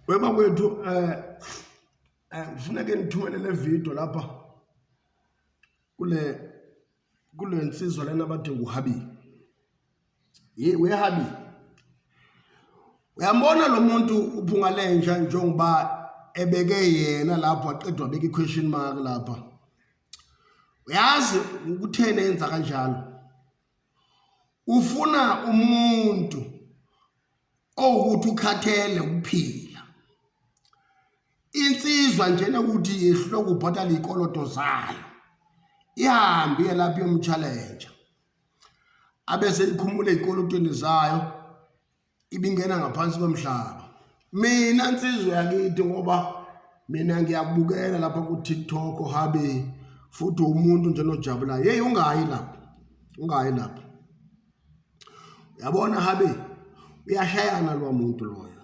Wema kwethu eh eh ngifuna ke ngithumele le video lapha kule kule nsizwa lena abade nguhabi ye wehabi uyambona lo muntu uphunga lenja njengoba ebeke yena lapho aqedwa abeka i-question mark lapha uyazi ukuthena yenza kanjalo ufuna umuntu owukuthi ukhathele ukuphila insizwa njena ukuthi yehlule ukubhatala iy'koloto zayo ihambe iye lapho yomtshalenja abese ikhumule ey'kolotweni zayo ibingena ngaphansi komhlaba mina nsizwa yakithi ngoba mina ngiyakubukela lapha ku-tiktok habe futhi umuntu nje nojabulayo yeyi ungayi lapho ungayi lapho yabona habe uyashayana lowa muntu loyo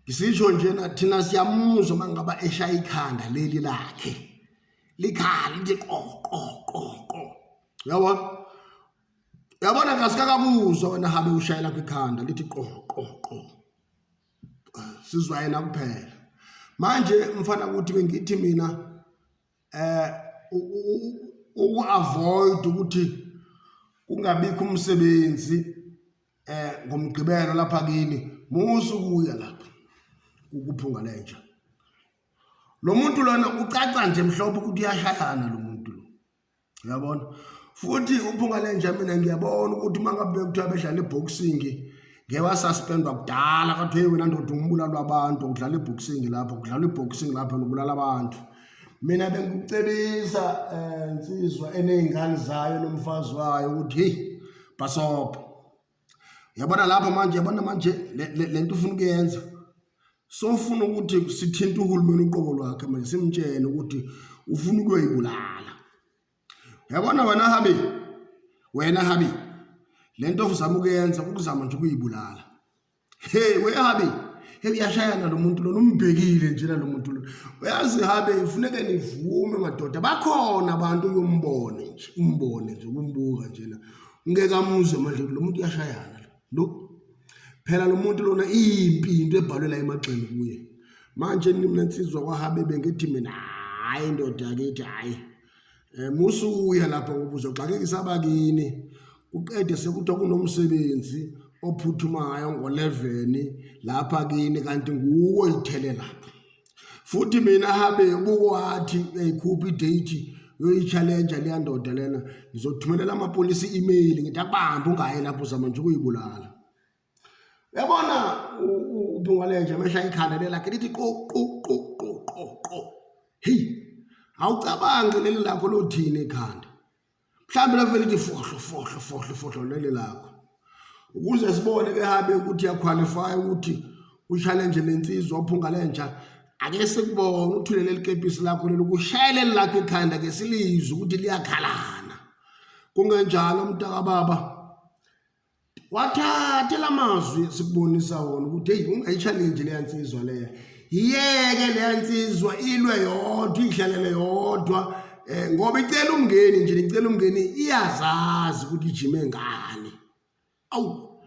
ngisisho njena thina siyamuzwa uma ngaba eshaya ikhanda leli lakhe likhala lithi qoqoqoqo yabona yabona kasikakabuzwa wena habe ushayela kwikhanda lithi qoqoqo sizwa yena kuphela manje mfana ukuthi bengithi mina uku-avoyida ukuthi kungabikho umsebenzi um ngomgqibelo lapha kini musa ukuya lapha ukuphunga lenja lo muntu lona ucaca nje mhlophe ukuthi uyashayana lo muntu lo uyabona futhi uphunga lenja mina ngiyabona ukuthi uma ngabe bekuthiwa bedlala i-boxing ngeke wasuspendwa kudala kathiwa hey wena ndoda umbulalo wabantu udlala i-boxing lapho kudlala i-boxing lapho nobulala abantu mina bengikucebisa um eh, nsizwa eney'ngane zayo nomfazi wayo ukuthi heyi bhasobha Uyabona lapho manje, uyabona manje le nto ufuna ukuyenza sofuna ukuthi sithinte uhulumeni uqobo lwakhe manje simtshene ukuthi ufuna ukuyoyibulala. Uyabona wena Habi, wena Habi, le nto ozama ukuyenza ukuzama nje ukuyibulala. Hey we Habi, hey uyashayana lo muntu lona umbhekile nje lo muntu lona. Uyazi Habi, ufuneke nivume madoda, bakhona abantu uyombone nje, umbone nje, umbuka nje na. ngeke amuzwe manje lo muntu uyashayana lo phela lo muntu lona impi into ebhalwe la emagxeni kuye manje mina nsizwa kwahabe bengithi mina hayi ndoda yakithi hayi um eh, musuya lapho ngoba uzoxakekisa abakini kuqede sekuthiwa kunomsebenzi ophuthumayo ngo-11 lapha kini kanti nguwo ithele lapho futhi mina habe bukohathi uyayikhupha idate yoyitshalenja leya ndoda lena ngizothumelela amapolisi i-email ngithi akubambe ungaye lapho uzama nje ukuyibulala yabona ubungalenje amehla ikhanda lelakhe lithi qo qo qo qo qo qo heyi awucabangi leli lakho lothini ikhanda mhlawumbe lavele ithi fohlo fohlo fohlo fohlo lele lakho ukuze sibone ke habe ukuthi yaqualify ukuthi uchallenge lensizwa uphunga lentsha ake sikubone uthulele likepisi lakho lelo kushayele lakho ikhanda ke silizwe ukuthi liyakhalana kungenjalo mntakababa wathathe la mazwi sikubonisa wona ukuthi eyi ungayitshalenji leya nsizwa leya yiyeke leya nsizwa ilwe yodwa iyihlalele yodwa um ngoba icela umngeni nje nicela umngeni iyazazi ukuthi ijime ngani awu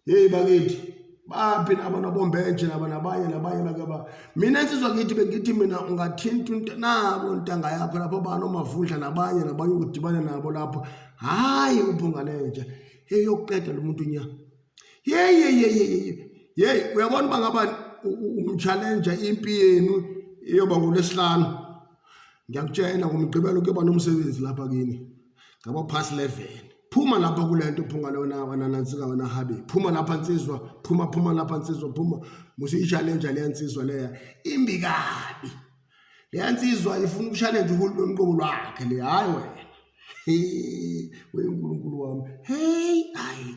yeyi bakithi baphi laba nobombenje laba nabanye nabanye nakaba mina nsizwa kithi bengithi mina ungathinta into nabo ntanga yakho lapho bani omavundla nabanye nabanye ukudibana nabo lapho hhayi ubhungalenje hey yokuqeda lo muntu nya yeyeyeyeyeye yeyi uyabona uba ngaba umtshalenja impi yenu iyoba ngolwesihlanu ngiyakutshela ngomgqibelo kuyoba nomsebenzi lapha kini ngaba past level phuma lapha kule nto phunga lona wananansika wena habe phuma lapha nsizwa phuma phuma lapha nsizwa phuma musi i-challenge leya nsizwa leya imbi kabi leya nsizwa ifuna uku-challenge uhulumeni uqobo lwakhe le hhayi wena unkulunkulu wami heyi ayi